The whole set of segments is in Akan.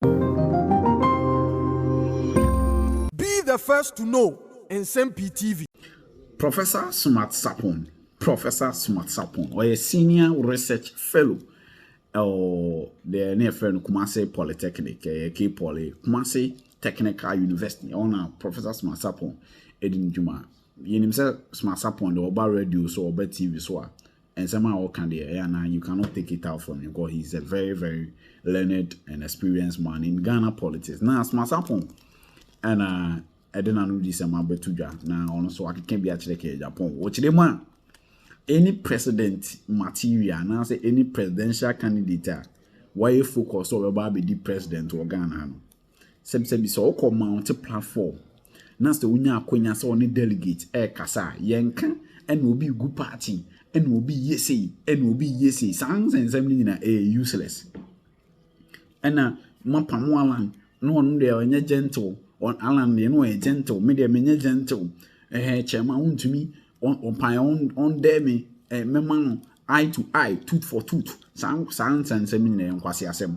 Be the first to know Nsɛm Pii TV. Professor Sumat Sarpong Professor Sumat Sarpong, ɔyɛ Senior Research Fellow wɔ deɛ ne yɛfrɛ no Kumasi Polytechnic, ɛyɛ K-Poly, Kumasi Technical University, ɛhɔ na Professor Sumat Sarpong ɛdi ne dwuma. Yɛnim sɛ Sumat Sarpong deɛ ɔba radio so, ɔba TV so a, Nsɛm a ɔka deɛ ɛyɛ a na you cannot take it out from him cause he is a very very learned and experienced man in Ghana politics. Na Asma Sarpong ɛna ɛde n'ano di sɛm abɛto dwa na ɔno nso akeka bi akyerɛ kɛɛ Japan. Wɔkyerɛ mu a any president material anaasɛ any presidential candidate a wɔayɛ focus sɛ ɔbɛba abɛdi president wɔ Ghana no Sɛbisɛbi sɛ ɔkɔ mount platform na sɛ wonya akwanya sɛ ɔne delegate ɛkasa a yɛnka ɛna obi gu party ɛna obi yɛ sei ɛna obi yɛ sei saa nsɛnsɛm no nyina ɛyɛ useless ɛna mapamo alan na ɔno deɛ ɔnyɛ gentle alan deɛ na ɔyɛ gentle me deɛ menyɛ gentle ɛhɛ kyɛma wontumi ɔmpae ɔndɛ me mɛma no eye to eye tooth for tooth saa saa nsɛnsɛm nyina yɛ nkwase asɛm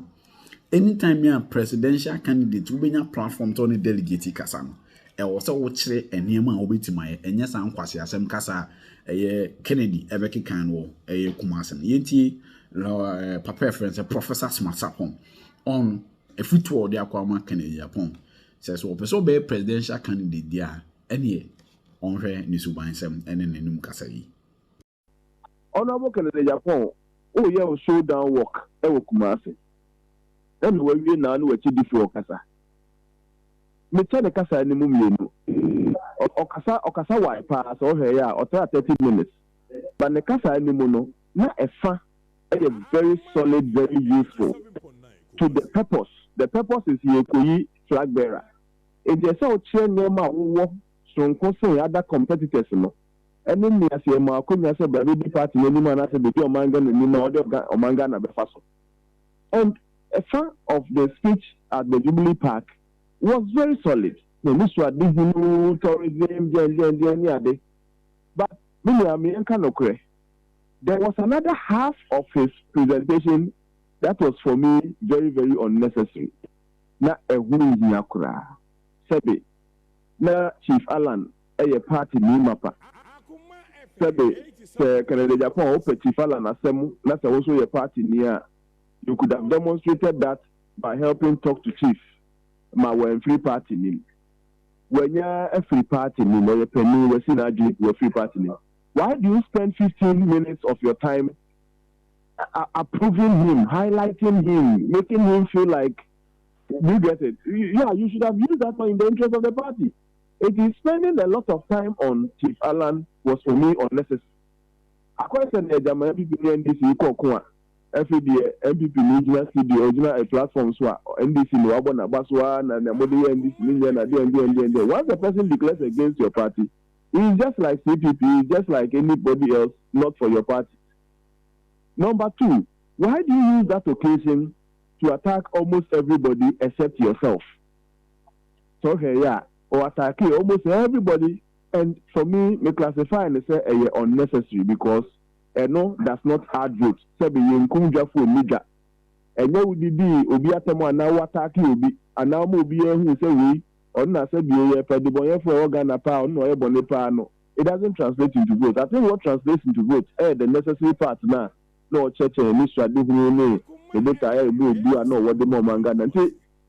Anytime bi a presidential candidate wobɛnya platform sɛ wo ne delegate kasa no, ɛwɔ sɛ wokyerɛ nneɛma a wobɛtumi ayɛ. Ɛnyɛ saa nkwaseasɛm kasa a ɛyɛ Kennedy ɛbɛkeka no wɔ ɛyɛ Kumasi no. Yɛntie eh, papa a ɛfrɛ no sɛ Professor Smart Sapon on afutuo a ɔde akɔ ama Kennedy Apon sɛ so ɔpɛ sɛ ɔbɛyɛ presidential candidate deɛ a ɛneɛ ɔnhwɛ ne subansɛm ɛne n'anom kasa yi. Honourable Kennedy Agyapong wo yɛ wo show down work wɔ Kumasi ɛna wawie naa ne wakyi di foɔ kasa me kyɛ ne kasa ani mu mmienu ɔkasa ɔkasa wae paa sɛ ɔhwɛ yɛ a ɔtra thirty minutes but ne kasa ani mu no na ɛfa ɛyɛ very solid very useful to the purpose the purpose is yɛ kɔyi flag bearer nti ɛsɛ ɔkyerɛ nneɛma a wo wɔ soronko sen other competitors no ne mmeaseɛ mu akonnwa sɛ bra bɛdi party no anim anaasɛ bɛdi ɔman Ghana anim a ɔde ɔga ɔman Ghana bɛfa so and ɛfa of the speech at the Jubilee Park was very solid. Na anisoadehunu tourism deɛndeɛndeɛn ne ade but me nua me yɛnka nokorɛ there was another half of his presentation that was for me very very unnecessary na ɛho nhia koraa sɛbe na Chief Allan yɛ party nii mapa. Sɛbe sɛ Canada Japan a wɔpɛ Tsifala n'asɛm na sɛ wo nso yɛ party nii a you could have demonstrated that by helping talk to Chief ma wanfiri party nim. Wanya afiri party nim, ɔyɛ panin, wasi n'adwene pi, wafiri party nim. Why do you spend fifteen minutes of your time approving him, highlighting him, making him feel like, do you get it? Yeah, you should have used that money in the interest of the party. Enti spending a lot of time on Chief Allan was for me unnecessary. Akɔyɛ sɛ nea gyama NPP ne NDC rekɔ ɔko a, afei deɛ NPP ni gyina si deɛ ɔgyina a platform so a, NDC ni wabɔ n'abaso ara na nea mode yɛ NDC ni nyɛ na deɛn deɛn deɛn deɛn. Once a person declares against your party, he is just like CPP, he is just like anybody else not for your party. Number two, why do you use that occasion to attack almost everybody except yourself? sɛ wohwɛ yɛ a ɔ attackee almost everybody and for me me classify no sɛ ɛyɛ unnecessary because ɛno does not add vote sɛbe yɛnkum dwa foɔ nni dwa ɛnyɛ wo didii obi atɛm anaa wo attackee obi anaa woma obiara huu sɛ wei ɔno na sɛbe yɛpɛ debɔnyɛfoɔ a ɛwɔ Ghana paa ɔno na ɔyɛ bɔne paa no it doesn't translate into vote I think what translates into vote ɛyɛ the necessary part no a na ɔkyerɛkyerɛ n'anisoadehunu ne ne botaeɛ a ɛbɔ obu a na ɔwɔ de ma ɔman Ghana nti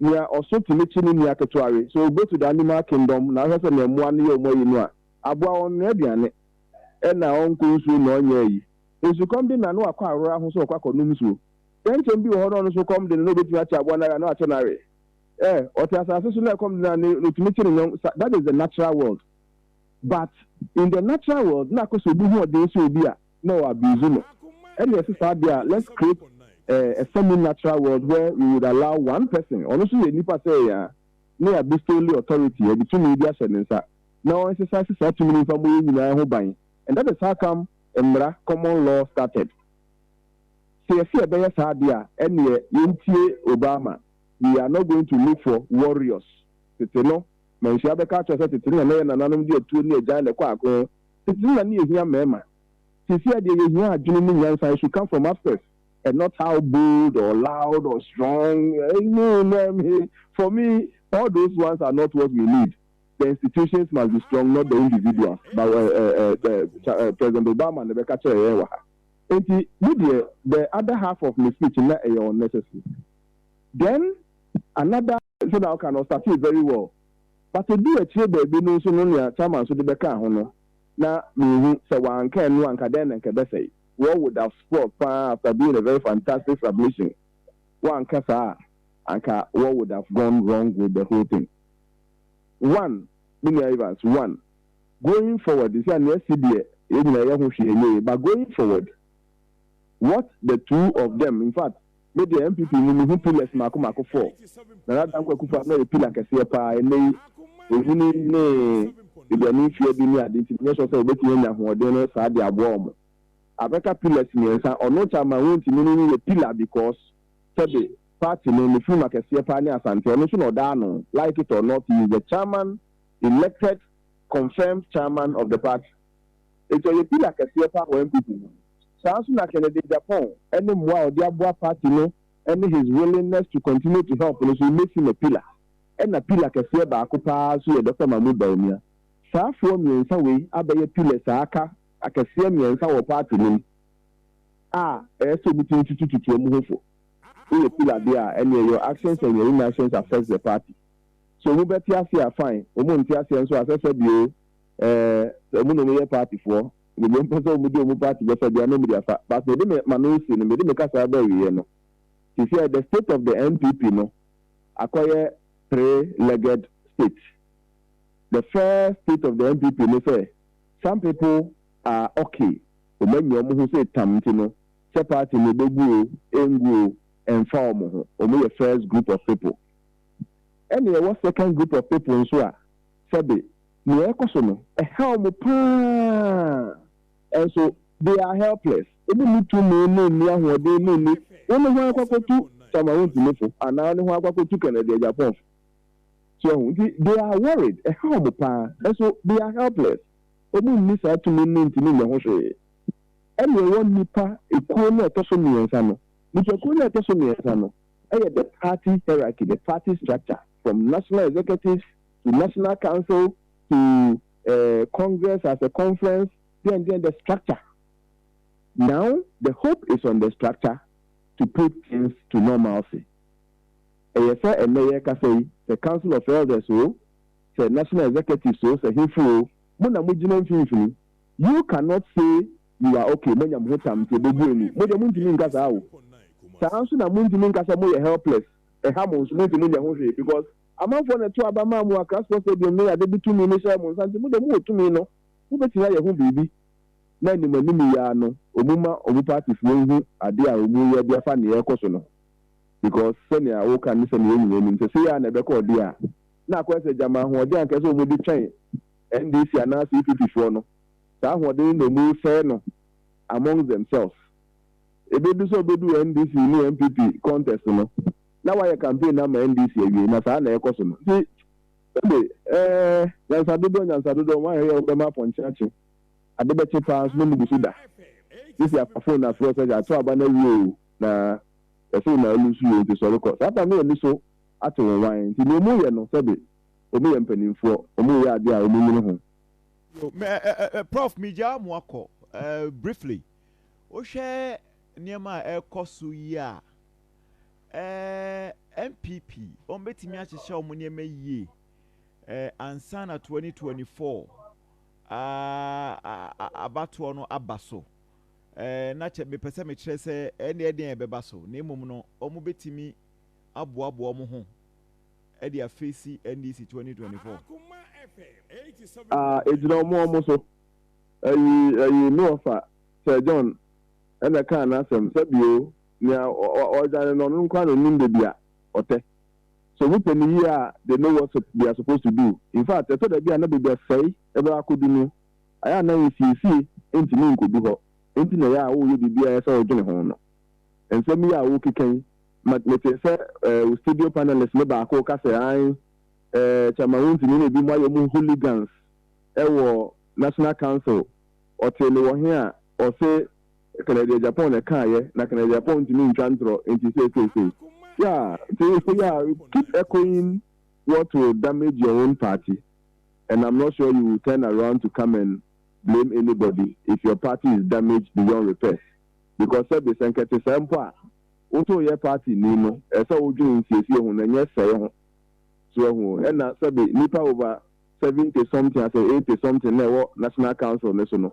Nea ɔso tumi kyi ne nua ketewa we. So go to the animal kingdom na wohwɛ sɛnea mmoa no yɛ wɔn ayi no a, aboa ɔnnoa aduane, ɛna ɔnkɔ nsuo na ɔnyɛ ayi. Nsukɔm de no a na wakɔ aworɔ aho sɛ ɔkɔ akɔnom nsuo. Kyɛnkyɛn bi wɔ hɔ na ɔno nso kɔm de no na ɔbɛtumi akye aboa no awe a na wakye no awe. Eh, ɔte asase so na ɛkɔm de no a na ɔtumi kye ne nyɔnk sa that is the natural world. But in the natural world na akɔ sɛ obi hoɔden sɛ obi a, na ɔ abuse no ɛne ɛte saa deɛ a let's create a semi natural world where we would allow one person ɔno nso yɛ nipa sɛ yɛn a ne ya bestowly authority yɛde tumi bi ahyɛ ne nsa na ɔ exercise saa tumi no mfa mmɔ yɛn nyinaa ho ban and that is how come mmara, common law, started sɛ yɛse yɛbɛyɛ saa deɛ a ɛneɛ yɛntie Obama we are not going to look for warriors tete no manhyia bɛka akyerɛ wo sɛ tete no na na yɛ nananom de atuo ne agyan na ɛkɔ ako Ntsi nna nna yehia mbarimba. Sesei a deɛ yehia adwene mu nyansa, it should come from upstairs and not how bold or loud or strong eh no no eh me for me all those ones are not what we need the institutions must be strong not the individuals but eh eh eh the Cha eh President Obama na ɛbɛka kyerɛɛ yɛn wɔ ha enti me deɛ the other half of me speech nna ɛyɛ unnecessary then another Sɛnea woka no, ɔstartee very well, but eduu akyire baabi no nso no nea Charma nso de bɛkaa ho no, na minhu. Sɛ wɔanka ɛno a, anka dɛn na anka ɛbɛsɛe? War would have spoiled paa after doing a very fantastic submission. Wɔanka saa a, anka war would have gone wrong with the whole thing. One, me nua Evans, one, going forward, sɛ nea asi deɛ, yɛn nyinaa yɛho hwee nyɛɛ yie, but going forward, what the two of them infact me deɛ NPP mu mehu pillars maako maako four Nana Dankwa Akufo Addo na yɛ pillar kɛseɛ paa ɛnnɛ yi ɔnyini ne aduane mfeɛ du ne ade nti menyɛ sure sɛ wɔbɛtumi anya ahoɔden no saa de aboa wɔn abɛka pillars mmiɛnsa ɔno Chairman Wontimi no no yɛ pillar because sɛbe party no ne funuma kɛseɛ paa ne Asante ɔno nso na ɔda ano like it or not he is the Chairman elected confirmed Chairman of the party. Enti ɔyɛ pillar kɛseɛ paa wɔ NPP mu. Saa nso na Kennedy Agyapong ne mmoa a ɔde aboa party no ne his willingness to continue to help no nso makes him a pillar. Ɛna pillar kɛseɛ baako paa nso yɛ Doctor Mahmood Bawumia. Saa foɔ mmiɛnsa wei abɛyɛ pillars a aka akɛseɛ mmiɛnsa wɔ party no mu a ɛyɛ sɛ wɔtumi tutu tutu wɔn ho fo. Woyɛ pillar deɛ a, ɛnneɛ your actions and your inactions affects the party. So wɔbɛte aseɛ a, fine. Wɔn nte aseɛ nso a, sɛsɛbi oo. eh, sɛ ɔmo na ɔmo yɛ party foɔ, baabi a ɔmo pɛ sɛ ɔmo di ɔmo party bɛfa biara na ɔmo de afa, but mede me mano resi no, mede me kasaa ba awieɛ no, sesiɛ the state of the NPP no akɔyɛ three legged state, the first state of the NPP ne sɛ some people are okay, ɔmo anyi ɔmo ho sei tam nti no, sɛ party no bɛgu o, ɛngu o, ɛnfa ɔmo ho, ɔmo yɛ first group of people, ɛna yɛwɔ second group of people nso a sɛbe, Nea ɛrekɔ so no, ɛhaw mo paa. Nso, they are helpless. Wonni tumi ne nni ahoɔden ne nni. Wo ne hwan akɔ akɔtu Cameroonfo anaa wo ne hwan akɔ akɔtu Canadiajapanfo? So ahu? Nti, they are worried. Ɛhaw mo paa. Nso, they are helpless. Wɔnni saa tumi no ntumi nyɛ ho hwee. Ɛna ɛwɔ nnipa kuo no a ɛtɔ so mmiɛnsa no. Nnipakuo no a ɛtɔ so mmiɛnsa no yɛ the party hierarchy, the party structure, from national executives The National Council to Congress as a Conference deɛn deɛn the structure now the hope is on the structure to put things to normalcy ɛyɛ sɛ ɛnnɛ yɛrekasa yi sɛ Council of Elders o sɛ National Executives o sɛ hefo o mo na mo gyina mfimfini you cannot say you are okay moanya mo ho tam nti ɛbɛbu ani mo deɛ montumi nka saa o saa nso na montumi nka sɛ moyɛ helpless ɛha mo nso montumi nyɛ ho hwee because Amanfoɔ na ɛtoo aba maa mo Accra Sports Stadium no yɛ ade bi tumi no hyɛɛ mo nsa nti mo deɛ mowɔ tumi no mobɛtumi ayɛ ho biribi na anim anim yi ara no ɔmu ma ɔmu partyfoɔ nhu adeɛ a ɔmu yɛ de afa neɛ ɛkɔ so no because sɛnea woka ne sɛnea yɛn nyinaa nim sɛ sei ara na ɛbɛkɔ ɔdeɛ a na akɔyɛ sɛ gyama ahoɔden a anka ɛsɛ ɔmu de twɛn NDC anaa CPP foɔ no saa ahoɔden no na ɔmu resɛe no amongst themselves ɛbɛdu sɛ ɔbɛdu NDC ne NPP contest no. na wayɛ campaign no ama NDC awie na saa na ɛkɔ so no nti wo de eh nyansa dodoɔ nyansa dodoɔ why hwɛ yɛ wo bɛma apɔnkye akye ade bɛkye paa nso na ɔmu gu so da sisi apa phone na frɛ sɛ ato aba no awie oo na yɛse wo na alusu yɛ nti sɔre kɔ saa pa no ani so ate wo wan nti nea ɔmu yɛ no sɛbe ɔmu yɛ mpaninfoɔ ɔmu yɛ adeɛ a ɔmu nyini ho. Yo me eh eh eh prof me gyaa mo akɔ eh briefly wo hwɛ nneɛma a ɛkɔ so yi a. eh, NPP wɔn bɛtumi ahyehyɛ wɔn nneɛma yie eh, ansa na 2024 ah, abatoɔ no aba so eh, na kyɛ mepɛ sɛ mekyerɛ sɛ ɛne eh, ɛdeɛn ɛbɛba so na mmom no wɔn bɛtumi aboaboa wɔn ho ɛde afeesi NDC 2024. Ɛgyina wɔn wɔn so ɛyi ɛyi no ɔfa Sir John ɛna kaa n'asɛm sɛbio Nea ɔredwane no, ɔno nkoa na onim baabi a ɔtɛ. So mopɛ no yiye a, they know what they are supposed to do. In fact, ɛtɔ da bi a na baabi a sɛe bɛba akodu no, ayɛ a na nsiesie ntumi nkodu hɔ. Enti na ɛyɛ a woreyɛ biribi a ɛyɛ sɛ wodwene ho no. Nsɛm yi a worekeka yi ma metee sɛ wo studio panelist no baako reka sɛ, Aane, eh, Chairman Wontini na ebinom ayɛ wɔn hooligans wɔ National Council. Ɔtee me wɔ he a, ɔse, Kanadia Japan na ɛkaeɛ na Kanadia Japan ntumi ntwa ntorɔ nti seeseesei. Yeah nti nso yeah keep echoing what will damage your own party and I'm not sure you will turn around to come and blame anybody if your party is damaged beyond repairs because sɛbe sɛ nkɛte saa mpo a woto yɛ party ni no ɛsɛ sɛ wodwene nsiesie ho na nyɛ sɛe ho so wahu o ɛna sɛbe nipa over seventy something asɛ eighty something na ɛwɔ national council no so no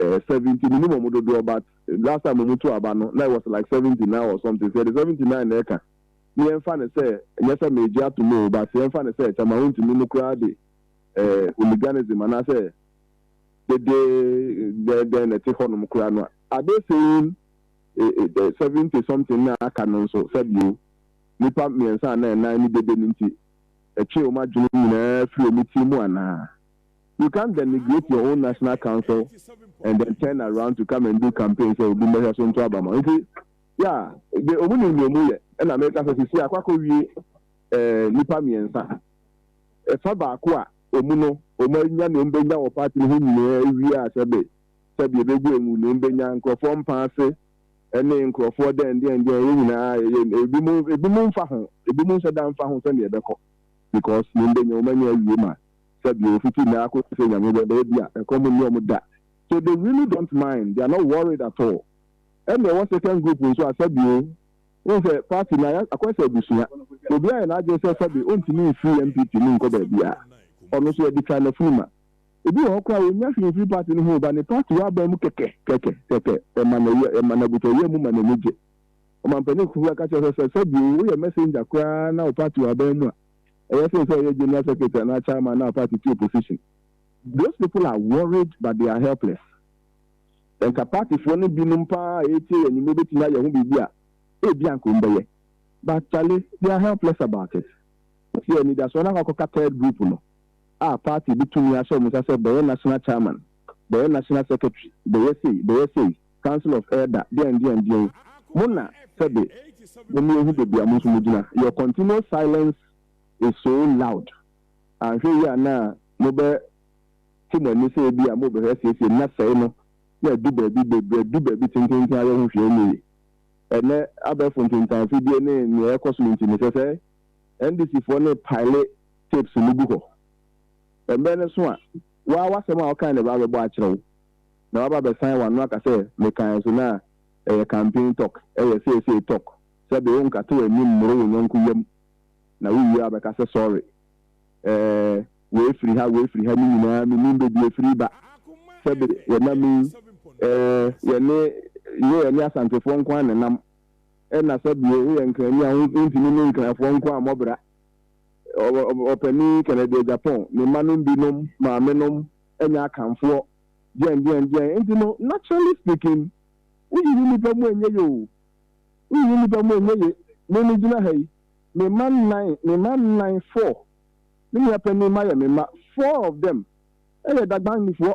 eh, seventy menim ɔmo dodoɔ but last time ɔmo tu aba no na it was like seventy nine or something sɛ yɛde seventy nine na ɛka ne yɛmfa no sɛ nyɛ sɛ meegye atom oo but yɛmfa no sɛ kyɛ ma wontumi no koraa de eh, hooliganism anaasɛ dede dɛn dɛn na ɛte hɔnom koraa no a are they saying eh, eh, eh, seventy something na aka no nso sɛbio nipa mmiɛnsa anaa ɛnan ne dede no nti ɛtwee wɔn adwene nyinaa firi wɔn ti mu anaa You can't denigrate your own national council and then turn around to come and do campaign sɛ obi mmɛhwɛ so nto aba ma wo. Nti, yeah, de ɔmo nim nea ɔmo yɛ. Ɛna meka sɛ sisi akɔ akɔwie eh, nnipa mmiɛnsa. Ɛfa baako a ɔmu no, ɔmo anya nea ɔmo bɛnya wɔ party no ho nyinaa awie a sɛbe, sɛbe ɛbɛgu ɛngu nea ɔmo bɛnya, nkorɔfoɔ mpa ase ɛne nkorɔfoɔ dɛn dɛn dɛn, yɛn nyinaa yɛyɛ, ɛbinom, ɛbinom mfa ho, ɛbinom nhyɛ da mfa ho sɛnea ɛbɛkɔ because nea ɔmo bɛnya ɔmo anya awie ma. sɛ deɛ ɔfiti nnɛ ara kɔsi sɛ Nyame bɛba ebia ɛkɔm nni wɔn da so they really don't mind they are not worried at all ɛnna ɛwɔ second group nso a sɛbi o wohu sɛ party no ayɛ akɔyɛ sɛ abusua obiara ayɛ n'adwene sɛ sɛbi ɔntumi mfiri NPP mu nkɔ baabiara ɔno nso yɛde twa n'afunu ma ebi wɔ hɔ koraa ɔnnya hwee mfiri party no ho o but ne party wɔ aban mu kɛkɛ kɛkɛ kɛkɛ ɛma n'ayɛ ɛma n'abotɔyam mu ma n'ani gye ɔmampanin kukuruwa ka kyerɛ sɛ sɛ sɛbi o woyɛ messenger koraa na wo party wɔ aban mu a Eya sen sɛ ɔyɛ general secretary anaa chairman na party ti opposition. Those people are worried but they are helpless. Sɛ nka party foɔ no binom paa a ɛretie yɛn nnwuma bɛtumi ayɛ ho biribi a, ebia anka wɔn bɛyɛ. But Charlie, they are helpless about it. Nti anidasoɔ no akɔ akɔka third group no a party de tumi ahyɛ wɔn nsa sɛ bɛyɛ national chairman, bɛyɛ national secretary, bɛyɛ sei, bɛyɛ sei. Council of Elder deɛn deɛn deɛn mo na sɛbe mo me ehu bebia mo nso mo gyina your continual silence is so loud anhwɛ yie a na mo bɛ te mo ani sɛ ebia mo bɛ hwɛ siesie na sɛe no na adu baabi bebre adu baabi tententen ayɛ ho hwee nyɛ yie ɛnɛ abɛɛfo ntentan fidie ne nea ɛkɔ so no nti mesɛ sɛ NDC foɔ no pile tapes no gu hɔ ɛmberɛ no so a waa wasɛm a wokae na ɛbaa bɛbɔ akyerɛ wo na waba abɛsan wano aka sɛ mekae so no a, ɛyɛ campaign talk, ɛyɛ seesei talk, sɛbe wonkate w'anim mmoro wo yɔnko yam na wowie a wobɛka sɛ sorry. Ɛɛ, wei firi ha, wei firi ha no nyinaa mennim baabi ɛfiri reba. Sɛbe yɛnam yi, ɛɛ, yɛne, nyɛ yɛne Asantefoɔ nko ara na ɛnam, ɛna sɛbe woyɛ Nkrani a wontumi ne Nkrafoɔ nko ara mmɔ bra. Ɔ, ɔ, Ɔpanin Kennedy Agyapong, ne mmanom binom, maamenom, ɛnyɛ Akanfoɔ. Deɛn deɛn deɛn nti no naturally speaking woyiyi nnipa mu ɛnyɛ ye o, woyiyi nnipa mu ɛnyɛ ye. Me me gyina ha yi, me mma nnan, me mma nnan, four, me nua panin mma yɛ me mma, four of them ɛyɛ Dagbannifoɔ.